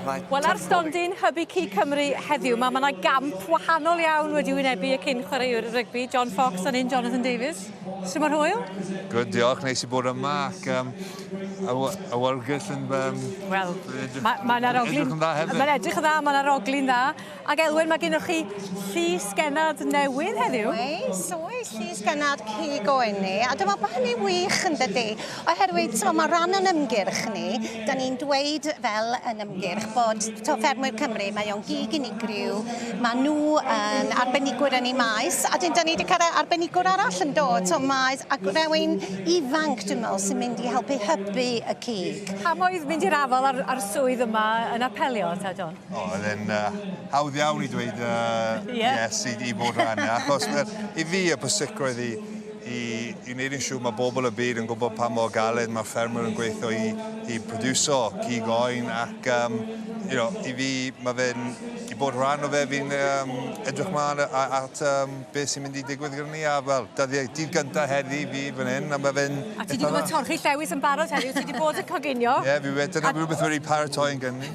Wel ar stondin Hybu Cig Cymru heddiw mae yna gamp wahanol iawn wedi wynebu y cyn chwaraewr rygbi John Fox a'n un Jonathan Davies. Sut mae'r hwyl? Good, diolch. Neis i bod yma ac um, awyrgylch yn... Um, Wel, mae yna roglyn... Mae'n edrych yn dda hefyd. Mae'n edrych yn dda, mae yna roglyn dda. Ac Elwen, mae gennych chi llys genad newydd heddiw. Oes, oes, llys genad cig o enni. A dwi'n meddwl bod hynny'n wych yn dydy. Oherwydd, so, mae rhan o'n ymgyrch ni, da ni'n dweud fel yn ymgyrch bod to ffermwyr Cymru, mae o'n gig unigryw, mae nhw yn arbenigwyr yn ei maes, a dyn da ni wedi cael arbenigwr arall yn dod, so maes, ac rhywun ifanc, dwi'n meddwl, sy'n mynd i helpu hybu y cig. Pam oedd mynd i'r afal ar, ar swydd yma yn apelio, ta John? O, oedd e'n uh, hawdd iawn i dweud uh, yeah. yes i, i bod rhan. Achos i fi y pwysigrwydd i, i, i wneud yn siŵr mae bobl y byd yn gwybod pa mor galed mae'r ffermwyr yn gweithio i, i produso cig oen ac um, you know, i fi mae fe'n i bod rhan o fe fi'n um, edrych mlaen at um, beth sy'n mynd i digwydd gyda ni a fel dyddiau dydd gyntaf heddi fi fan hyn a mae fe'n... A ti wedi gwybod torchi llewis yn barod heddiw, ti wedi bod yn coginio? Ie, yeah, fi wedi, dyna rhywbeth wedi paratoi'n gynnu.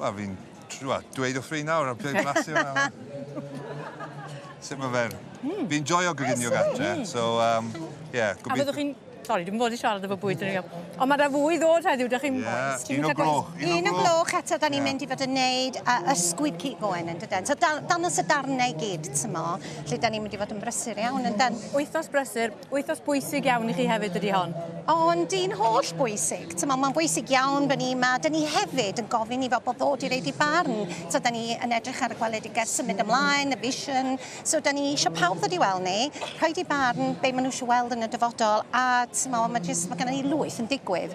Wel fi'n tr- wel dweud wrtho fi nawr a ble blasu hwnna nawr. Sut ma' fe'n... Hmm. Fi'n joio goginio gatre so yym ie gobeithio... A fyddwch chi'n... Sori dwi'm fod i siarad efo bwyd yn iawn. Ond ma' 'na fwy i ddod heddiw 'dach chi'm... Ie. Un o'r gloch. Un o'r gloch. Un o'r gloch eto 'dan ni'n mynd i fod yn neud yy ysgwyd cig goen yndyden? So da- dangos y darne i gyd t'mo' lle 'dan ni'n mynd i fod yn brysur iawn yndan? Wythnos brysur Wythnos bwysig iawn i chi hefyd ydy hon. Ond dyn holl bwysig. T'mo' mae'n bwysig iawn bod ni 'ma. 'Dyn ni hefyd yn gofyn i bobl ddod i reid i barn. So 'dyn ni yn edrych ar y gweledigaeth symud ymlaen, y vision. So 'dyn ni eisiau pawb ddod i weld ni, rhoid i barn be' ma' nhw eisiau weld yn y dyfodol a t'mo' ma' jyst ma' gynnon ni lwyth yn digwydd.